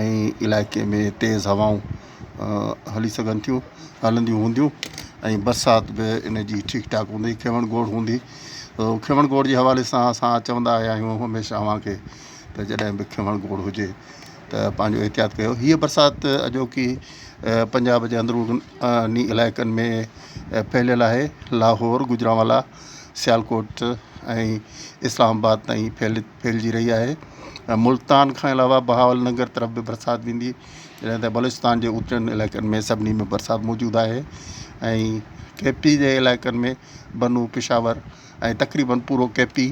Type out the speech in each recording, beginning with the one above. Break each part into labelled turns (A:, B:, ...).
A: ۽ علائقي ۾ تيز هوائون هلي سگهن ٿيون هلنديون هونديون ۽ برسات به ان جي ٺيڪ ٺاڪ هوندي کيوڻ گوڙ هوندي کيوڻ گوڙ جي حوالي سان اسان چوندا آيا آهيون هميشه اوهان کي ته جڏهن به کيوڻ گوڙ هجي ته پنهنجو احتياط ڪيو هيء برسات اڄوڪي پنجاب جي اندروني علائقن ۾ ڦهليل آهي لاهور گجرانوالا سيالڪوٽ ۽ اسلام آباد تائين ڦهلي ڦهلجي رهي آهي ۽ ملتان کان علاوه بهاول ننگر طرف به برسات ويندي جڏهن ته بلوچستان جي اوچن علائقن ۾ سڀني ۾ برسات موجود آهي ۽ ڪي پي جي علائقن ۾ بنو پشاور ۽ تقريبن پورو ڪي پي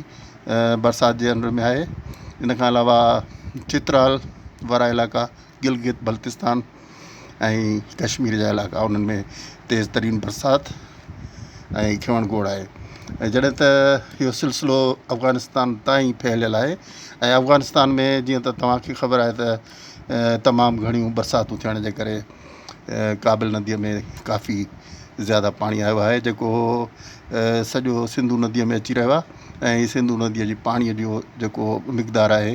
A: برسات جي انڊر ۾ آهي ان کان علاوه چترال وارا علائقا گلگت بلتستان ۽ ڪشمير جا علائقا انهن ۾ تيز ترين برسات ۽ کيوڻ گوڙ آهي ۽ جڏهن ته اهو سلسلو افغانستان تائين ڦهليل آهي ۽ افغانستان ۾ جيئن ته توهان کي خبر آهي ته تمام گهڻيون برساتون ٿيڻ جي ڪري ڪابل نديء ۾ ڪافي زياده پاڻي آيو آهي جيڪو سڄو سنڌو نديء ۾ اچي رهيو آهي ۽ سنڌو نديء جي پاڻيء جو جيڪو مقدار آهي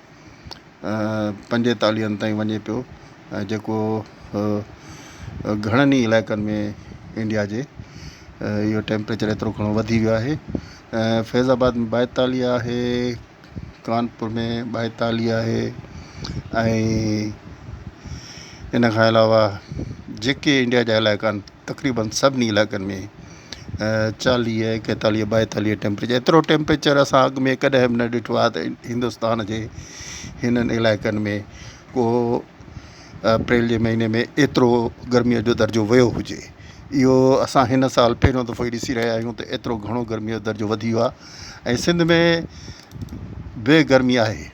A: پنجيتاليهن تائين وڃي پيو جيڪو گهڻن ئي علائقن ۾ انڊيا جي اهو ٽيمپريچر ايترو گهڻو وڌي ويو آهي فيض آباد ۾ ٻائيتاليهه آهي ڪانپور ۾ ٻائيتاليهه آهي ۽ ان کان علاوه جيڪي انڊيا جا علائقا آهن تقريبن سڀني علائقن ۾ چاليهه ايڪيتاليهه ٻائيتاليهه ٽيمپريچر ايترو ٽيمپريچر اسان اڳ ۾ ڪڏهن به نه ڏٺو آهي ته هندستان جي هنن علائقن ۾ ڪو اپريل جي مهيني ۾ ايترو گرميء جو درجو ويو هجي اهو اسان هن سال پهريون دفعو ئي ڏسي رهيا آهيون ته ايترو گهڻو گرميء جو درجو وڌي ويو آهي ۽ سنڌ ۾ به گرمي آهي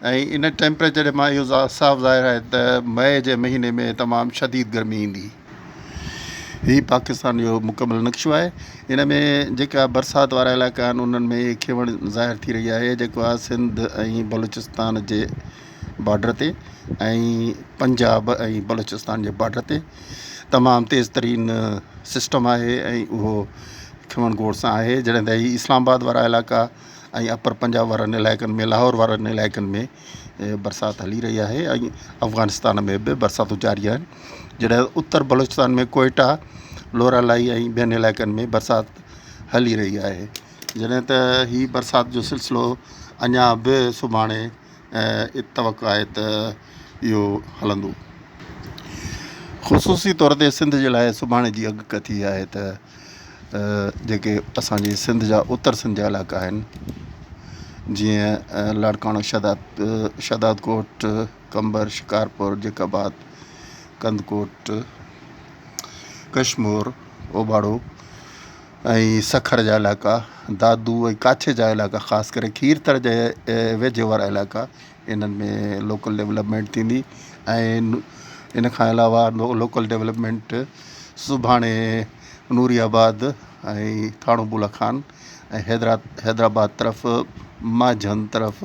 A: ۽ ان ٽيمپريچر مان اهو صاف ظاهر آهي ته مئي جي مهيني ۾ تمام شديد گرمي ايندي. هي پاڪستان جو مڪمل نقشو آهي. ان ۾ جيڪا برسات وارا علائقا آهن انهن ۾ اهي کيوڻ ظاهر ٿي رهي آهي جيڪو آهي سنڌ ۽ بلوچستان جي بارڊر تي ۽ پنجاب ۽ بلوچستان جي بارڊر تي تمام تيز ترين سسٽم آهي ۽ اهو کيوڻ گوڙ سان آهي جڏهن ته هي اسلام آباد وارا علائقا ۽ اپر پنجاب وارن علائقن ۾ لاهور وارن علائقن ۾ برسات هلي رهي آهي ۽ افغانستان ۾ به برساتون جاري آهن جڏهن ته اتر بلوچستان ۾ ڪوئيٽا لورالاهي ۽ ٻين علائقن ۾ برسات هلي رهي آهي جڏهن ته هي برسات جو سلسلو اڃا به سڀاڻي ۽ توقع آهي ته اهو هلندو. خصوصي طور تي سنڌ جي لاء سڀاڻي جي اڳڪٿي آهي ته جيڪي اسان جي سنڌ جا اتر سنڌ جا علائقا آهن جيئن لاڙڪاڻو، شهداد ڪوٽ، قمبر، شڪارپور، جيڪب آباد، ڪنڌڪوٽ، ڪشمور، اوباڙو، ۽ سکر جا علائقا، دادو ۽ ڪاڇي جا علائقا خاص ڪري کيرٿر جي ويجهو وارا علائقا انهن ۾ لوڪل ڊولپمينٽ ٿيندي ۽ ان کان علاوه لوڪل ڊولپمينٽ سڀاڻي نوري آباد ۽ ٿاڻو بولا خان ۽ حيدرا حيدرآباد طرف مانجهند طرف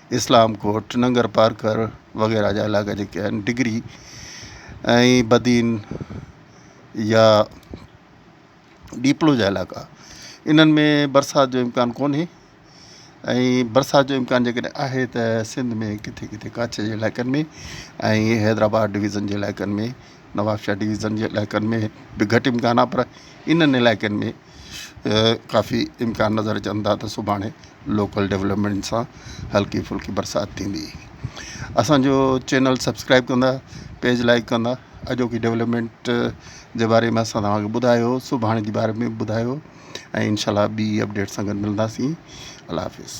A: اسلام ڪوٽ، ننگر پارڪر وغيره جا علائقا جيڪي آهن ڊگري ۽ بدين يا ڏيپلو جا علائقا انهن ۾ برسات جو امڪان ڪونهي ۽ برسات جو امڪان جيڪڏهن آهي ته سنڌ ۾ ڪٿي ڪٿي ڪاڇي جي علائقن ۾ ۽ حيدرآباد ڊويزن جي علائقن ۾ نوابشاهه ڊويزن جي علائقن ۾ به گهٽ امڪان آهي پر انهن علائقن ۾ ڪافي امڪان نظر اچن ٿا ته سڀاڻي لوڪل ڊولپمينٽ سان هلڪي ڦلڪي برسات ٿيندي اسانجو چينل سبسڪرائب ڪندا پيج لائڪ ڪندا اڄوڪي ڊولپمينٽ جي باري ۾ اسان توهانکي ٻڌايو سڀاڻي جي باري ۾ ٻڌايو ۽ انشاء الله ٻي اپڊيٽ سان گڏ ملنداسين الله حافظ